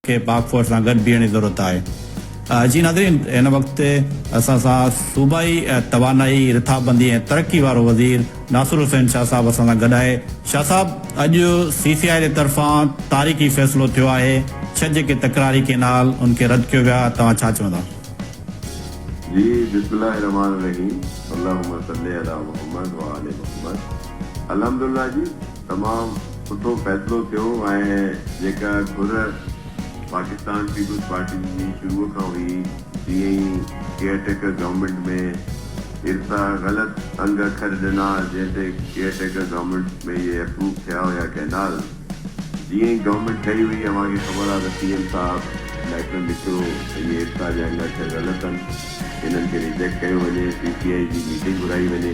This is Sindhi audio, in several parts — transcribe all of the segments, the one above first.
کي پاڪ فوج سان گڏ بيهڻ جي ضرورت آهي. جي ناظرين هن وقت اسان سان صوبائي توانائي رٿابندي ۽ ترقي وارو وزير ناصر حسين شاهه صاحب اسان سان گڏ آهي شاهه صاحب اڄ سي سي آء جي طرفان تاريخي فيصلو ٿيو آهي ڇهه جيڪي تڪراري ڪينال ان کي رد ڪيو ويو آهي توهان ڇا چوندا. جي بسم الله الرحمان الرحيم اللهم صلي علي محمد وآل محمد الحمدالله جي. تمام سٺو فيصلو ٿيو ۽ جيڪا گهر پاڪستان پيپلز پارٽي جي شروع کان هئي تيئن ئي ڪيئر ٽيڪر گورنمينٽ ۾ ارسا غلط انگ اکر ڏنا جنهن تي ڪيئر ٽيڪر گورنمينٽ ۾ اهي اپروو ٿيا هيا ڪئنال جيئن ئي گورنمينٽ ٺهي هئي اوهان کي خبر آ ته سي ايم صاحب ليٽر لکيو ته اهي ارسا جا انگ اکر غلط ان کي ريجيڪٽ ڪيو وڃي پي سي آئي جي ميٽنگ گهرائي وڃي.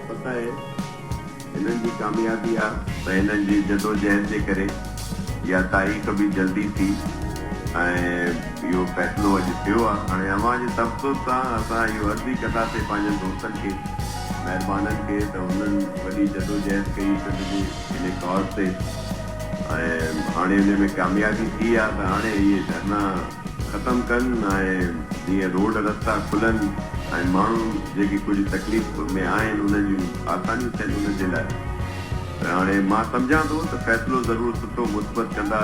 پتو آهي هنن جي ڪاميابي آ ۽ هنن جي جدوجهد جي ڪري اها تاريخ به جلدي ٿي ۽ اهو فيصلو اڄ ٿيو آ هاڻي اوهان جي تبسط سان اسان اهو عرضي ڪنداسين پنهنجن دوستن کي مهربانن کي ته هنن وڏي جدوجهد ڪئي سنڌ جي انهي ڪاز تي ۽ هاڻي انهي ۾ ڪاميابي ٿي آ ته هاڻي اهي ڌرنا ختم ڪن ۽ جيئن روڊ رستا کلن ۽ ماڻهو جيڪي ڪجهه تڪليف ۾ آهن انهن جون آسانيون ٿين انهن جي لاء هاڻي مان سمجهان ٿو ته فيصلو ضرور سٺو مثبت ڪندا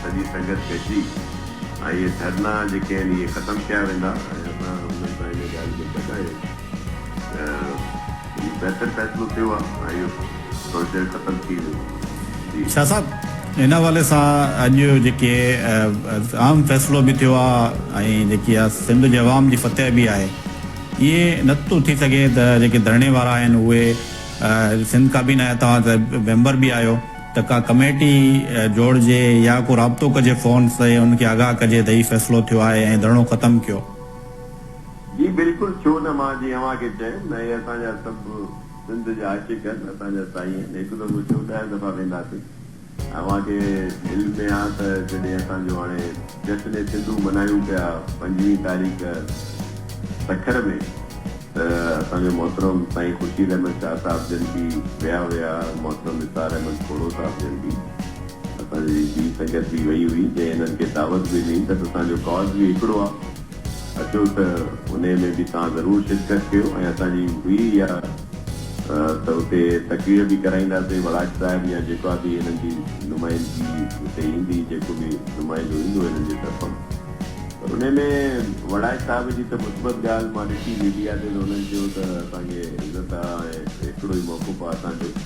سڄي سنگت گڏجي ۽ اهي ڌرنا جيڪي آهن اهي ختم ڪيا ويندا ۽ اسان انهن سان ان ڳالهه ۾ گڏ آهيون ته هي بهتر فيصلو ٿيو آ ۽ اهو پروجيڪٽ ختم ٿي ويو جي. شاهه صاحب ان حوالي سان اڄ جيڪي اهم فيصلو به ٿيو آ ۽ جيڪي آ سنڌ جي عوام جي فتح به آهي اهي نه ٿو ٿي سگهي ته جيڪي ڌرڻي وارا آهن اهي سنڌ ڪابينا جا توهان ته ميمبر به آهيو ته ڪا ڪميٽي جوڙجي يا ڪو رابطو ڪجي فون تي ان کي آگاهه ڪجي ته هي فيصلو ٿيو آهي ۽ ڌرڻو ختم ڪيو جي بلڪل ڇو نه مان جي اوهان کي چيم اهي اسان جا سڀ سنڌ جا عاشق آهن اسان جا سائين آهن هڪ دفعو ڇو ڏهه دفعا وينداسين اوهان کي علم ۾ آ ته جڏهن اسان جو هاڻي جشن سنڌو منايون پيا پنجويهه تاريخ سکر ۾ ته اسان جو محترم سائين خورشيد احمد شاهه صاحب جن ڪي ويا هيا محترم نثار احمد کوڙو صاحب جن ڪي اسان جي ٻي سنگت به وئي هئي جنهن هنن کي دعوت به ڏني ته اسان جو ڪاز به هڪڙو آ اچو ته انهي ۾ به توهان ضرور شرڪت ڪيو ۽ اسان جي هئي اها ته اتي تقرير به ڪرائينداسين وڙاڪ صاحب يا جيڪا به هنن جي نمائندگي اتي ايندي جيڪو به نمائندو ايندو هنن جي طرفان پر انهي ۾ وڙاڪ صاحب جي ته مثبت ڳالهه مان ڏٺي ميڊيا تي ته انهن چيو ته اسان کي عزت آ ۽ هڪڙو ئي موقعو آ اسان جو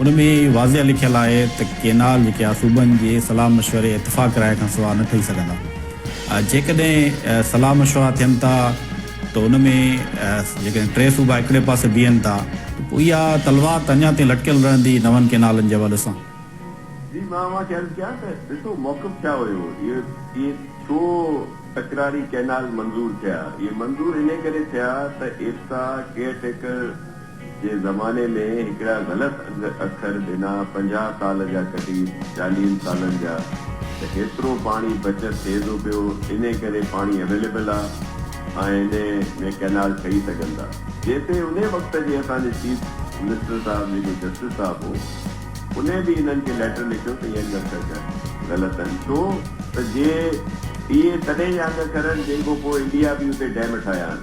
ان ۾ واضح لکيل آهي ته ڪينال جيڪي آهي صوبن جي صلاح مشوري اتفاق راء کان سواء نه ٺهي سگهندا. جيڪڏهن صلاح مشورا ٿين ٿا ته ان ۾ جيڪڏهن ٽي صوبا هڪڙي پاسي بيهن ٿا ته پوء اها تلوار ته اڃا تائين لٽڪيل رهندي نون ڪينالن جي حوالي سان. جي مان اوهان کي عرض ڪيان ته ڏسو موقف ڇا هيو، اهي ڇو تڪراري ڪينال منظور ٿيا، اهي منظور انهي ڪري ٿيا ته ايپسا ڪيئر ٽيڪر جي زماني ۾ هڪڙا غلط اکر ڏنا پنجاهه سال جا ڪٽي چاليهن سالن جا ته هيترو پاڻي بچت ٿئي ٿو پيو انهي ڪري پاڻي اويليبل آ ۽ انهي ۾ ڪئنال ٺهي سگهن ٿا جنهن تي انهي وقت جي اسان جي چيف منسٽر صاحب جيڪو جسٽس صاحب هو انهي به انهن کي ليٽر لکيو ته اهي انگ اکر غلط آهن ڇو ته جي اهي تڏهن جا انگ اکر آهن جنهن کان پوء انڊيا به اتي ڊيم ٺاهيا آهن.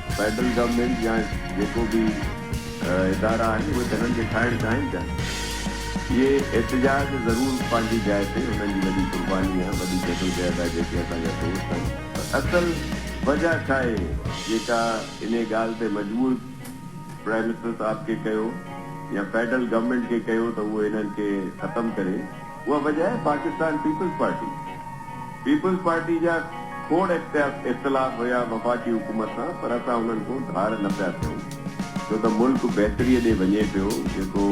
فيڊرل گورنمينٽ يا جيڪو به ادارا آهن اهي ته هنن کي کائڻ چاهين پيا. اهي احتجاج ضرور پنهنجي جاء تي هنن جي وڏي قرباني آهي وڏي جدوجهد آهي جيڪي اسان جا دوست آهن پر اصل وجه ڇاهي جيڪا انهي ڳالهه تي مجبور پرائم منسٽر صاحب کي ڪيو يا فيڊرل گورنمينٽ کي ڪيو ته اهو هنن کي ختم ڪري. اها وجهه آهي Pakistan Peoples Party Peoples Party جا کوڙ اختلاف هيا وفاقي حڪومت سان پر اسان انهن کون ڌار نه پيا ٿيون ڇو ته ملڪ بهتري ڏي وڃي پيو جيڪو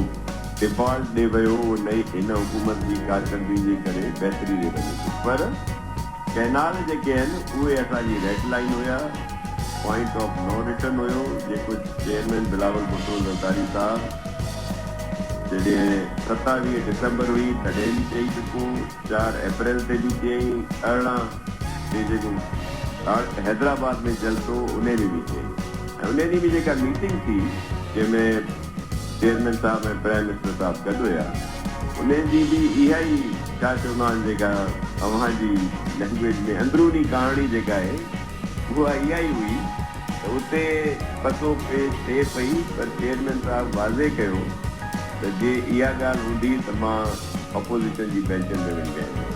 ڊفالٽ ڏي ويو اهو نئين هن حڪومت جي ڪارڪردگي جي ڪري بهتري ڏي وڃي پيو پر ڪئنال جيڪي آهن اهي اسان جي ريڊ لائين هيا پوائنٽ آف نو رٽرن هيو جيڪو چيئرمين بلاول ڀٽو زرداري صاحب جڏهن ستاويهه ڊسمبر هئي تڏهن به چئي چڪون، چار اپريل تي به چيائين، ارڙهن تي جيڪو حيدرآباد ۾ جلسو انهي ۾ به چيائين ۽ انهي ڏينهن به جيڪا ميٽنگ ٿي جنهن ۾ چيئرمين صاحب ۽ پرائم منسٽر صاحب گڏ هيا انهي جي به اها ئي ڇا چوندا آهن جيڪا اوهان جي لينگويج ۾ اندروني ڪهاڻي جيڪا آهي اها اها ئي هئي ته اتي پتو پيش ٿئي پئي پر چيئرمين صاحب واضح ڪيو ته جي اها ڳالهه هوندي ته مان اپوزيشن جي بينچن تي وڃي ويهندس.